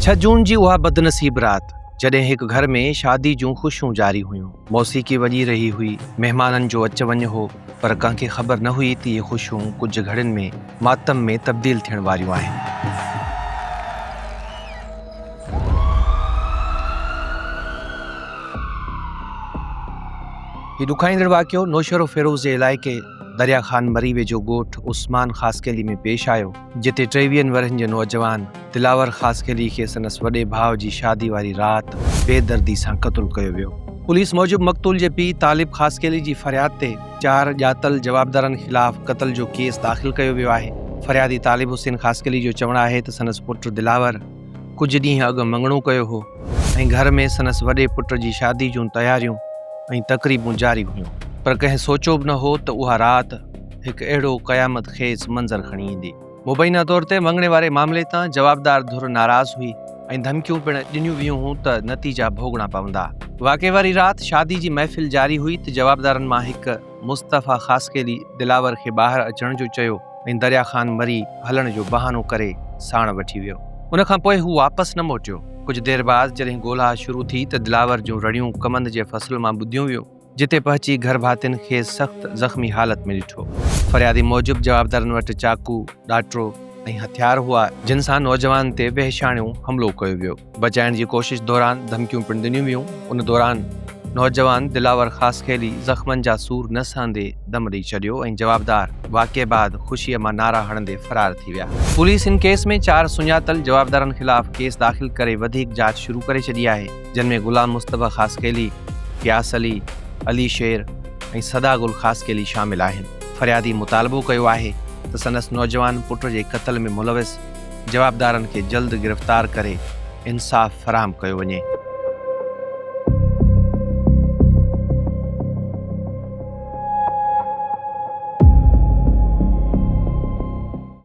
ڇهه جون جي اها بدنصيب رات جڏهن هڪ گهر ۾ شادي جون خوشيون جاري هيون موسيقي وڄي رهي هئي مهمانن جو اچ وڃ هو پر ڪنهن کي خبر نه هئي ته اهي خوشيون ڪجهه گهڙين ۾ ماتم ۾ تبديل ٿيڻ واريون آهن هي ڏکائيندڙ واقعو نوشهرو فيروز جي علائقي دريا خان مري ويجهو ڳوٺ عثمان خاصخيلي ۾ پيش آيو جتي ٽيويهن ورهين جو نوجوان دلاور خاصخيلي کي سندس وڏي ڀاء جي شادي واري رات بي دردي سان قتل ڪيو ويو پوليس موجب مقتول جي پيء طالب خاصخيلي جي فرياد تي چار ڄاتل جوابدارن خلاف قتل جو ڪيس داخل ڪيو ويو آهي. فريادي طالب حسين خاصخيلي جو چوڻ آهي ته سندس پٽ دلاور ڪجهه ڏينهن اڳ مڱڻو ڪيو هو ۽ گهر ۾ سندس وڏي پٽ جي شادي جون تياريون ۽ تقريبون جاري هيون پر ڪنهن سوچيو به نه هو ته اها رات هڪ اهڙو قيامت خيز منظر کڻي ايندي. مبينا طور تي مڱڻي واري معاملي تان جوابدار ڌر ناراض هئي ۽ ڌمڪيون پڻ ڏنيون ويون هون ته نتيجا ڀوڳڻا پوندا. واقعي واري رات شادي جي محفل جاري هئي ته جوابدارن مان هڪ مصطفيٰ خاصخيلي دلاور کي ٻاهر اچڻ جو چيو ۽ دريا خان مري هلڻ جو بهانو ڪري ساڻ وٺي ويو. ان کان پوء هو واپس نه موٽيو. ڪجهه دير بعد جڏهن ڳولها شروع ٿي ته دلاور جون رڙيون ڪمند جي فصل مان ٻڌيون ويون. جتي پهچي گهر ڀاتين کي سخت زخمي حالت ۾ ڏٺو. فريادي موجب جوابدارن وٽ چاقو، ڏاٽرو ۽ هٿيار هئا، جن سان نوجوان تي وحشياڻو حملو ڪيو ويو، بچائڻ جي ڪوشش دوران ڌمڪيون پڻ ڏنيون ويون، ان دوران نوجوان دلاور خاصخيلي زخمن جا سور نه سهندي دم ڏئي ڇڏيو ۽ جوابدار واقعي بعد خوشي مان نعرا هڻندي فرار ٿي ويا. پوليس ان ڪيس ۾ چار سڃاتل جوابدارن خلاف ڪيس داخل ڪري وڌيڪ جاچ شروع ڪري ڇڏي آهي. جن ۾ غلام مصطفيٰ خاصخيلي، غياث علي، علي شير ۽ سدا گل خاصخيلي شامل آهن. فريادي مطالبو ڪيو آهي ته سندس نوجوان پٽ جي قتل ۾ ملوث جوابدارن کي جلد گرفتار ڪري انصاف فراهم ڪيو وڃي.